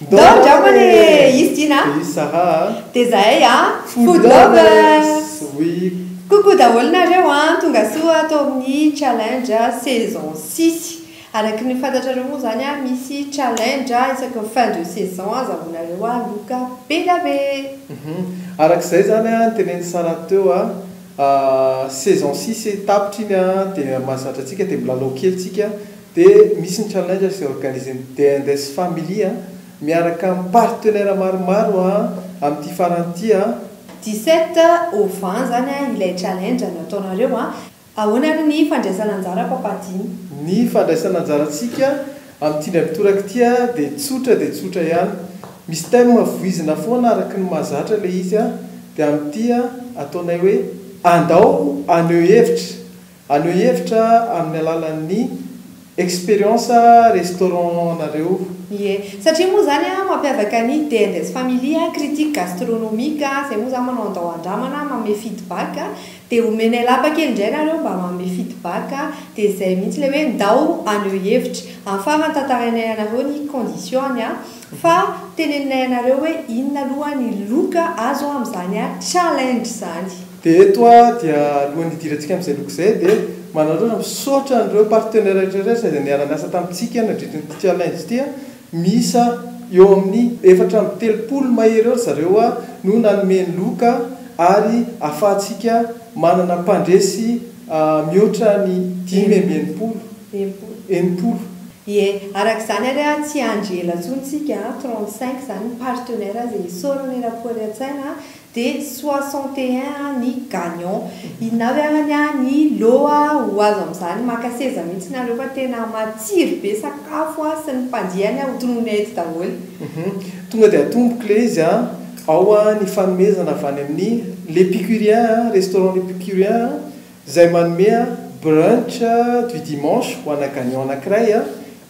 Ndoo angamba le izy ty na. Pays Sahara a. Dia zahay a. Food lovers. Oui. Coucou daholo nareo an! Tonga soa ato amin'ny challenge saison six. Araky ny fantatrareo moa zany an misy challenge isaky ny fin de saison azahoanareo loka be da be. Hum araka izay zany an teneniny Sarah teo an, saison six tapitra iny an dia mahazatra antsika dia milalao kely tsika. Dia misy ny challenge izay organisen'ny DNDS Family miaraka amin'ny partenaires maromaro amin'ity farany ity. 17 Ova izany ilay challenge nataonareo. Ahoana ary ny fandraisan'anjara Papa Dimy? Ny fandraisan'anjarantsika amin'ity indray mitoraka ity dia tsotra dia tsotra ihany. Misy thème voizina foana araka ny mahazatra ilay izy dia amin'ity ataonay hoe andao haneho hevitra. Haneho hevitra amin'ny alalan'ny experience restaurant-nareo. Ie. Satria moa izany mampiavaka ny DNS Family, Critique Gastronomique, izay moa izany manao andao andramana, manome feedback, dia omenay lapa kely indray ianareo mba manome feedback, dia izay mihitsy ilay hoe ndao haneho hevitra. Amin'ny farany tantarainay anareo ny condition-ny fa teneninay anareo hoe inona aloha ny loka azo amin'izany challenge izany. Dia eto aho dia alohan'ny hidirantsika amin'izay loko izay dia manararaotra misaotra an'ireo partenaires rehetrarehetra izay niara-niasa tamintsika nandritry ity challenge ity a! miisa eo amin'ny efatra amby telopolo mahery eo ry zareo a! no nanome ny loka ary ahafahantsika manana mpandresy mihoatra ny dimy amby enimpolo enimpolo. Ie, araka izany ary a, tsy hiandry ela intsony isika a, trente cinq izany ny partenaires izay isaorana eran'ny Kore an-tsaina a! Dia soixante et un an ny gagnant. Inona avy arany an ny loha ho azo amin'izany? Maka seza mihitsy nareo fa tena matsiro be sakafo an sy ny mpandiany an ho tononina eto daholo. Hum tonga dia atomboko le izy an! Ao an ny fanomezana avy any amin'ny L'Epicurien an, restaurant L'Epicurien an, izay manome an brunch du dimanche ho ana gagnant anankiray an!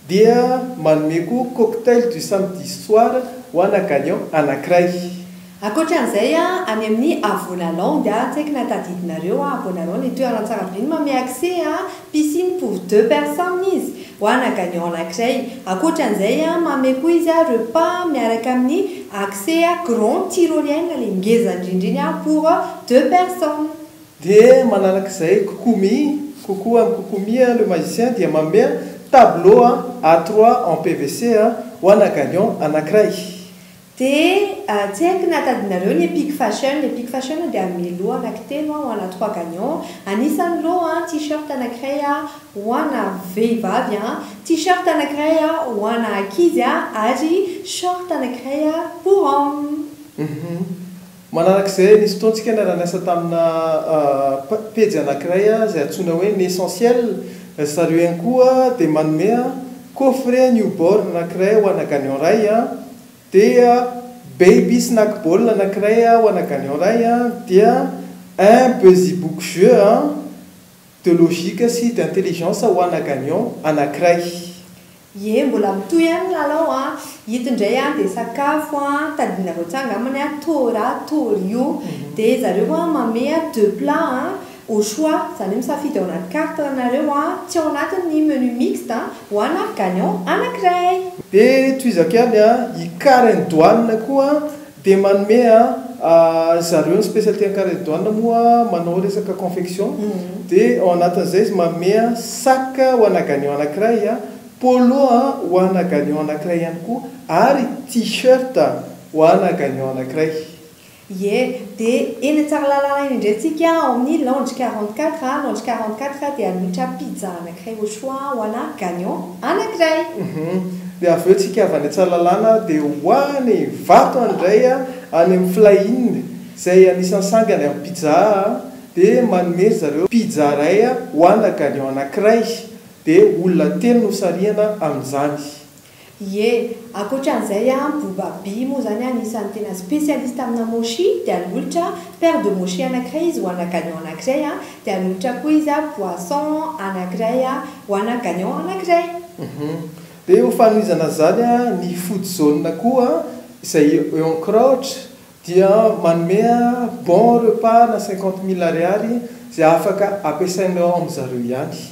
Dia manome koa cocktail du samedi soir ho ana gagnant anankiray. Ankoatra an'izay, any amin'ny Avola Land, tsaiky na tadidinareo a, Avola Land, ny toerana tsara be ny manome accès a, piscine pour deux personnes izy, ho ana gagnant anankiray. Ankoatra an'izay, manome koa izy a, repas miaraka amin'ny accès grand tyrolienne, ilay ngeza indrindra iny a, pour deux personnes. Dia manaraka izay Kokomi, Koko and Kokomi le magicien dia mamea tableau A trois en PVC ho ana Galion anankiray. Dia tsy haiko na tadinareo ny Epic Fashion, Epic Fashion dia hanome lot anankitelo ho ana trois Galion, anisan'ny lot an, T-shirt anankiray ho ana vehivavy an, T-shirt anankiray ho ana ankizy ary short anankiray pour homme. Uhum. Manaraka izay, nisy fotoantsika niara-niasa tamina pejy anankiray izay antsoina hoe ny Essentiel. Ry zareo ihany koa dia manome coffret newborn anankiray ho ana gagnant iray, dia baby snack ball anankiray ho ana gagnant iray, dia un busybook jeu de logique sy d'intelligence ho ana gagnant anankiray. Ie mbola mitohy any ny lalao an! Ito indray an dia sakafo an, tadidinareo tsara angambany an, Tora, Torio, dia zareo an manome an deux plats an, au choix, izany hoe misafidy ao anaty carte ranareo an, tsy ao anatin ny menu mixte an, ho an ary gagnant anakiray! Dia tohizako ihany an, i Karen Doane koa Dia manome a ry zareo ny spécialité ankaredon moa manao resaka confection dia ao anatin'izay izy manome a sac ho ana gagnant anankiray a, polo a ho ana gagnant anankiray ihany koa ary t-shirt ho ana gagnant anankiray. Ie, dia eny Tsaralalana eny indray tsika ao amin'ny Lounge quarante quatre a, Lounge quarante quatre dia mitra pizza. Kay au choix voilà gagnant anankiray! Uhum. Dia avy eo tsika avy any Antsalalana dia ho any Ivato any indray any amin'ny Fly Inn izay anisan'ny sangany amin'ny pizza dia manome ry zareo pizza iray ho ana gagnant anankiray dia olona telo no sarihana amin'izany. Ie, ankoatran'izay an, Boubaby moa izany an, anisan'ny tena spécialiste amina mochi, dia hanolotra an, paire de mochi anankiray izy ho ana gagnant anankiray an, dia hanolotra koa izy an, poisson anankiray an, ho ana gagnant anankiray. Hum. Dia ho fanohizana an'izany an, ny food zone koa an, izay eo amin'ny Crouch, dia manome an, bon repas ana cinquante mille ariary, izay afaka ampiasainao ao amin-dry zareo ihany.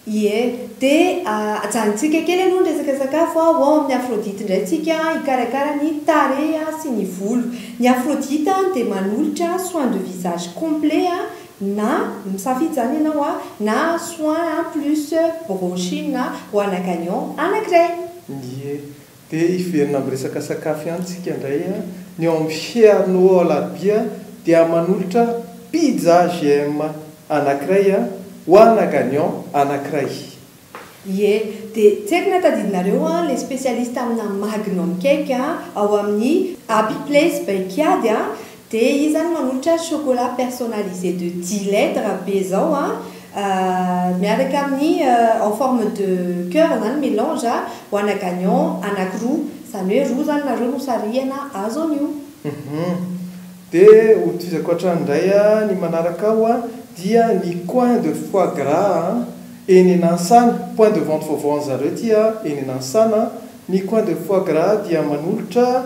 Ie. Dia ajanontsika kely aloha ny resaka sakafo a! Ho ao amin'ny Aphrodite indray tsika hikarakara ny tarehy sy ny volo. Ny Aphrodite dia manolotra soin de visage complet na misafidy izany ianao a, na soin plus brochine ho ana gagnant anankiray. Ie. Dia hiverina amin'ny resaka sakafo ihany tsika indray a, ny ao amin'ny Fierno ao Alarobia dia manolotra pizza GM anankiray a, ho ana gagnant anankiray. Ie, dia tsy haiko na tadidinareo an, ilay spécialiste amina magnum cake ao amin'ny Happy Place Baikiady an, De izy zany manolotra chocolat personnalisé de dix lettres be zao an, miaraka amin'ny en forme de coeur zany melange ho ana gagnant anakiroa, zany hoe roa zany nareo no sarihana azo an'io. Hum. De ho tohizako hatrany indray an, ny manaraka ao an, dia ny coin de foie gras an, eny Nansana, point de vente vaovao an'zareo ity an, eny Nansana an, ny coin de foie gras dia manolotra,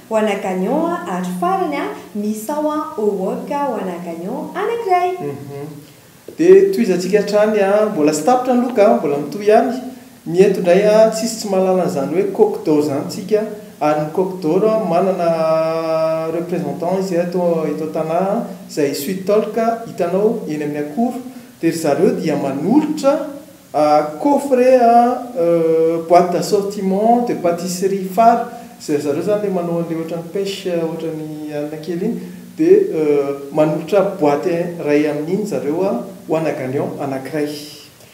Ho ana gagnon a ary farany a misao an ô ok ho ana gagnon anakiray. Uhum. De tohizantsika hatrany a. Mbola tsy tapitra ny loka a, mbola mitohy ihany. Ny eto indray a, tsisy tsy mahalala an'izany hoe coq d'or izany tsika, ary ny coq d'or a manana représentant izy eto eto an-tanà a, izay sweet talk hitanao eny amin'ny akoro, dia ry zareo dia manolotra, Ah coffret a euh boite d'assortiment de patisserie fary zay zareo zany le manao anle ohatran'ny pêche ohatran'ny alina kely iny de manolotra boite ray amin'iny zareo a ho ana gagnant anankiray.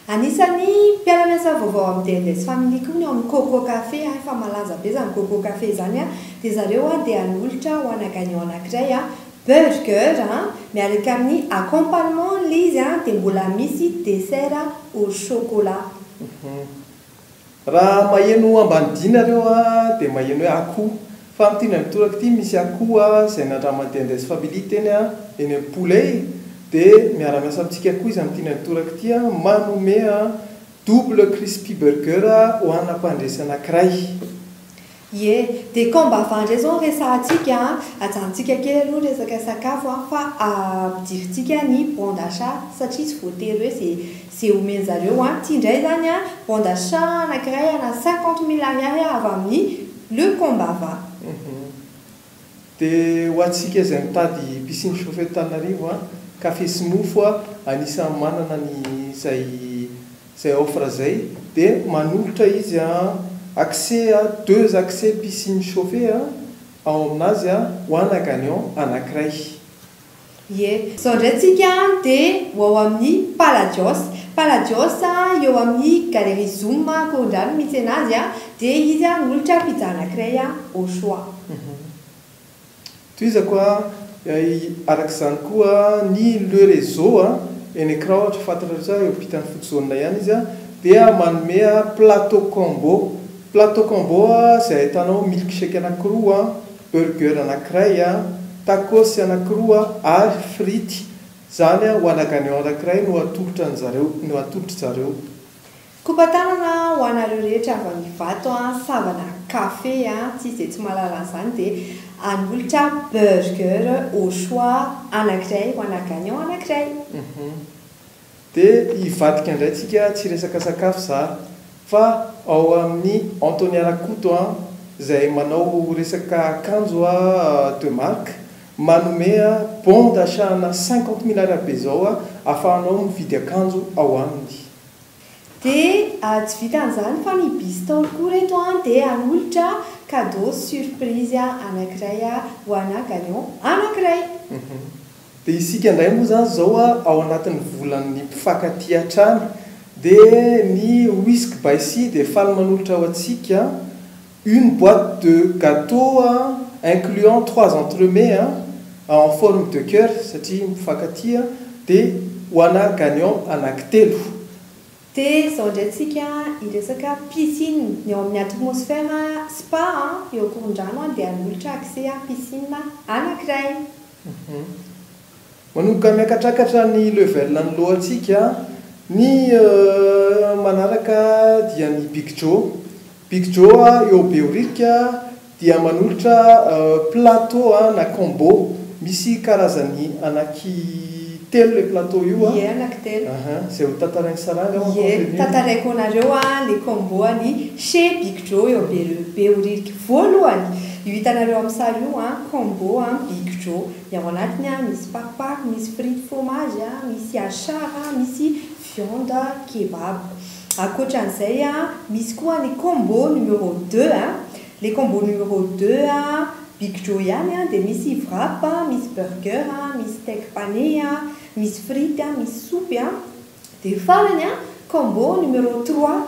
Anisan'ny mpiara-miasa vaovao amin'ny DLS Family koa ny ao amin'ny Coco Café a, efa malaza be izany Coco Café izany a, dia zareo a dia hanolotra ho ana gagnant anankiray a, Burger a, miaraka amin'ny accompagnement ilay izy a, dia mbola misy dessert au chocolat. Uhum. Raha maheno ambanidia nareo a, dia maheno hoe akoho. Fa amin'ity indray mitoraka ity misy akoho a, izay nandraman'ity Andes Family teny a, eny amin'ny Poulet e. Dia miara-miasa amintsika koa izy amin'ity indray mitoraka ity a, manome a double crispy burger ho ana mpandresy anankiray. Ie, dia k'ao mba avy ndray zao resahantsika an! Ajanontsika kely aloha ny resaka sakafo an, fa ampidirintsika ny bon d'achat satria tsy voatery hoe ze ze omen'zareo an! Ty ndray zany an, bon d'achat anakiray ana cinquante mille ariary avy amin'ny Le Combava. Dia ho antsika izay mitady piscine chauffée eto Tananarivo an, café sy mofo an, anisan'ny manana an'izay izay offre izay, dia manolotra izy an, accès an, deux accès piscine chauffée an, ao aminazy an, ho ana gagnant anankiray. Ie. Izao indray tsika dia ho ao amin'ny Palladios. Palladios eo amin'ny Galerie Zoom Korondrano mitsena azy dia izy molotra pizza anakiray au choix. Tohizako araka izany koa ny Le Réseau eny Ecran ohatra fantatrareo eo ampitan'ny foot zone ihany izy dia manome plateau combo. Plateau combo izay ahitanao milkshake anakiroa. Burger anakiray, tacos anakiroa ary frity zany ho ana gagnant anakiray no atolotra ny zareo, no atolotra zareo. Kopa tanana ho anareo rehetra avy am Ivato an, savana cafe an, tsisy de tsy mahalala an'izany de anolotra burger au choix anakiray ho ana gagnant anakiray. Dia hivadika ndray tsika tsy resaka sakafo za fa ao amin'ny Antonia Rakoto an, zay manao resaka akanjo a de marque manome a bon d'achat ana cinquante mille arabe zao a afahanao mividy akanjo ao aminy. Dia tsy vitan'izany fa ny Bis Taolo koa reto an dia hanolotra cadeau surprise anakiray ho ana gagnant anakiray. Dia isika indray moa izany izao ao anatin'ny volan'ny mpifankatia hatrany dia ny Whisky by Sia dia faly manolotra ho antsika une boite de gateau incluant trois entremets en forme de coeur satria mpifankatia dia ho ana gagnant anankitelo. Dia izao indray tsika hiresaka piscine, ny ao amin'ny atmosphère spa eo Ankorondrano dia hanolotra accès piscine anankiray. Manomboka miakatrakatra ny level ny lohantsika ny manaraka dia ny big jo, big jo eo behoririka dia manolotra plateau na combo misy karazany anaky telo ilay plateau io an, ie anaky telo, aha, izay ho tantarain'i saranga an, ie tantaraiko anareo an le combo an'i chez big jo eo behoririka. Voalohany, io hitanareo amin'ny sary io an, combo an, big jo. Ny ao anatiny an, misy pakpak, misy frity fromage an, misy achar an, misy viande kebab. Ankoatran'izay an, misy koa ny combo numéro deux an, ilay combo numéro deux an, big jo ihany an, dia misy wrap an, misy burger an, misy steak pané an, misy frity an, misy soupe an. Dia farany an, combo numéro trois,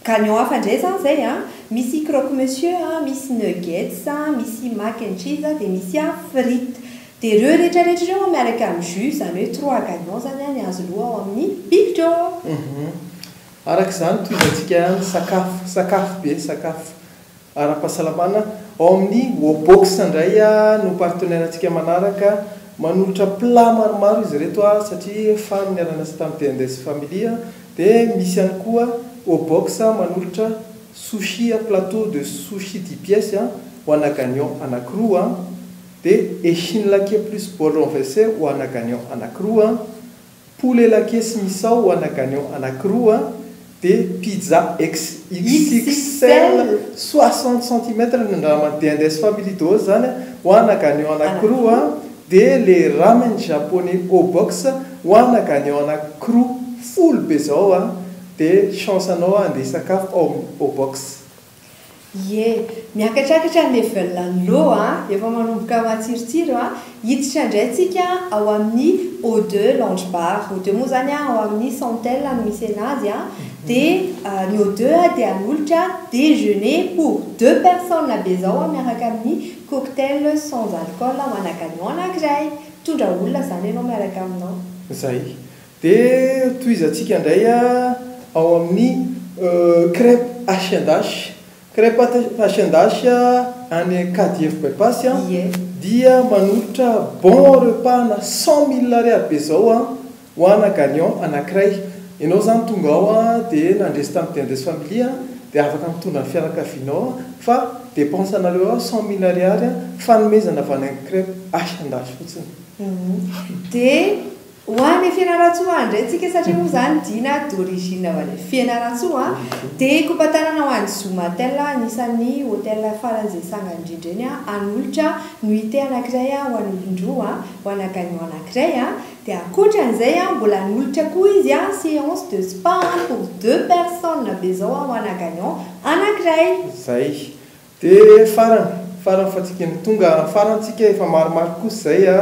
Gagnons hafa ndray zany zay a! Misy croque monsieur a, misy nuggets a, misy mac and cheese a, dia misy a frites. Dia ireo rehetra rehetra ireo an miaraka amin'ny jus, izany hoe trois gagnants zany an ny azo lo ao amin'ny bibikôo! Araka izany tohizantsika ny sakafo, sakafo be sakafo. ara-pahasalamana ao amin'ny Wobox indray no partenaire-ntsika manaraka. Manolotra plat maromaro izy ireto satria faly niara-niasa tamin'ny DNDS Family. Dia misy ihany koa Wobox manolotra sushi, plateau de sushi dix pièces ho ana gagnant anankiroa. Dia Echinlake plus bol renverse ho ana gagnant anankiroa. Poulet Laqué sy Misao ana gagnant anakiroa dia pizza xxxl soixante centimètres ny ramen dia Andes Family Doos zany ho ana gagnant anakiroa dia le ramen japonais O Box ho ana gagnant anakiroa folo be zao dia chance anao handeha hisakafo ao amin'ny O Box. Ie, miakatrakatra ny level an'i Lo a! Efa manomboka matsirotsiro a! Hiditra indray tsika ao amin'ny Eau de Lounge Bar. Eau de moa izany a, ao amin'ny Santel no misy anazy a. Dia ny Eau de a dia hanolotra déjeuner pour deux personnes be izao a, miaraka amin'ny cocktail sans alcool ho anà gagnant anankiray. Mitondra olona izany ianao miaraka aminao. Izay. Dia tohizantsika indray ao amin'ny crèpe H and H. Crèpe H and H any KDF Bypass dia manolotra bon repas-na cent mille ariary be izao ho ana gagnant anankiray. Ianao izany tonga ao dia nandresy tamin'ny Dendres Family dia afaka mitondra ny fianakavianao fa dépense anareo ao cent mille ariary fanomezana avy any amin'ny crèpe H and H fotsiny. Dia. Ho an i Fianarantsoa indray tsika satria moa zany Dina d'origine avy any Fianarantsoa dia kopatanana ho any Zomatel anisan'ny hotel farany izay sanga indrindra eny Anolotra nuitée anakiray ho any Olondroa ho ana gagnant anakiray dia akotran'izay mbola anolotra koa izy séance de spa pour deux personnes be zao ho ana gagnant anakiray. Zay. Dia farany farany fa tsy kely tonga amin'ny farany tsika efa maromaro kosa izay a,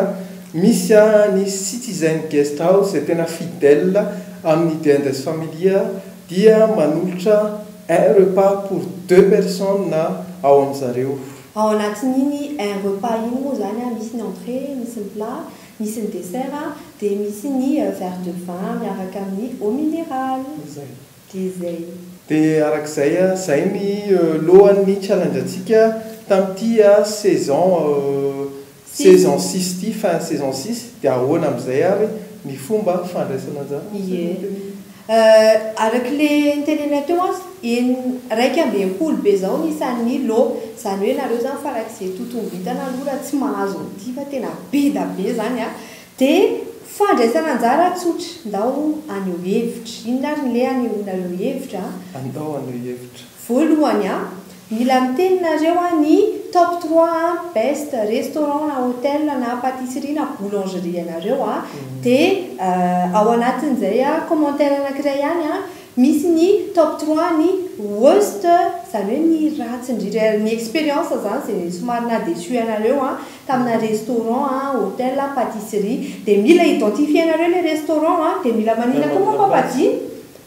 misy a ny Citizen Guest House izay tena fidèle amin'ny Dia Indes Familia dia manolotra un repas pour deux personnes ao amin'ny zareo. Ao anatin'iny un repas iny moa izany a misy ny entrée, misy ny plat, misy ny dessert dia misy ny verre de vin miaraka amin'ny eau minérale. Izay. Dia zay. Dia araka izay a, zay ny lohan' ny challenge antsika tam ty a saison saison six ty, fin saison six, dia ahoana am zay ary ny fomba fandraisana anjara? Ie. Euh, araka le nitenenay teo an, en, raika ambin'ny folo be zao ny isan' ny loha, zany hoe nareo zany farak'izay totombo hitana aloha raha tsy mahazo an ty fa tena be da be zany a, Dia fandraisana anjara tsotra, ndao haneho hevitra. Inona ary ny leha anehoa nareo hevitra a? A, Ndao haneho hevitra. Voalohany a, mila miteny nareo a ny top trois a, best restaurant na hotel na pâtisserie na boulangerie anareo a, dia ao anatin'izay a, commentaire anakiray ihany a, misy ny top trois ny worst, izany hoe ny ratsy indrindra, ny expérience izany izay somary naha déçu anareo a, tamina restaurant a, hotel a, patisserie, dia mila identifier nareo le restaurant a, dia mila manina koa moa papadia?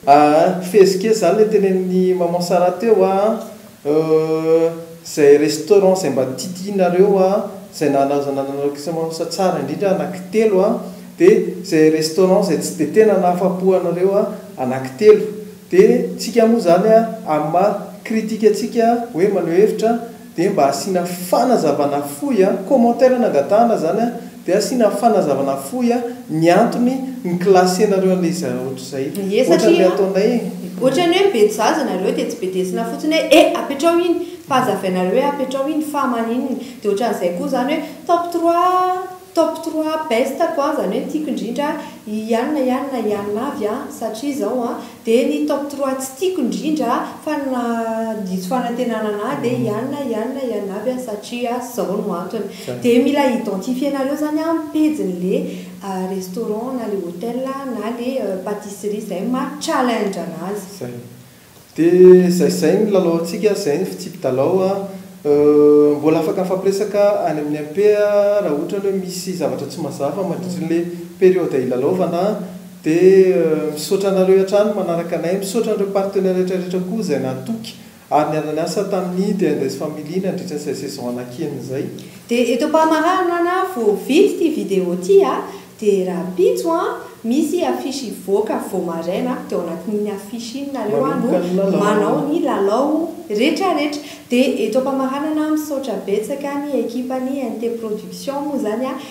Aa fezika e, zany le tenenin'i maman Sarah teo a, euh zay restaurant zay mba titianareo a, zay nanazananareo kisa maman sa tsara indrindra anaky telo a, de zay restaurant zay tsy de tena nahafapo anareo a, anaky telo, de tsika moa zany a, amin'ny maha critique antsika hoe maneho hevitra, Dia mba asiana fanazavana fohy a, commentaire no angatahana izany a, dia asiana fanazavana fohy a, ny antony ni classenareo an'ilay izy ohatr'izay. Ie satria Ohatran'ilay ataonay e. Ohatran'ny hoe be jaza nareo dia tsy bedesina fotsiny hoe eh apetraho iny fa hazavainareo hoe apetraho iny fa maninona dia ohatran'izay koa izany hoe top trois top trois best ko an izany hoe ny tiako indrindra i ianona ianona ianona avy an satria izao an Dia ny top trois tsy tiako indrindra fa nandiso fanantenana anah dia ianona ianona ianona aby aho satria zao no antony. Dia mila identifier nareo zany an ny pejiny le restaurant na le hotel na le patisserie zay maha challenge anazy. Zay. Dia zay zay ny lalao antsika, zay ny fitsipi-dalao an. Mbola afaka mifampiresaka any amin'ny MP raha ohatra ny hoe misy zavatra tsy mazava mandritry ny le periode ilalaovana an. Dia misaotra anareo hatrany manaraka anay, misaotra an'ireo partenaires rehetra rehetra koa izay natoky ary niara-niasa tamin'ny The Andes Family nandritra izay saison anakiany izay. Dia eto am-pamaranana na vao vita ity vidéo ity a, dia rahampitso a, misy affiche hivoaka vao maraina, dia ao anatin'iny affiche iny nareo a no manao ny lalao rehetra rehetra. Dia eto am-pamaranana misaotra betsaka ny ekipan'ny NT Production moa izany a,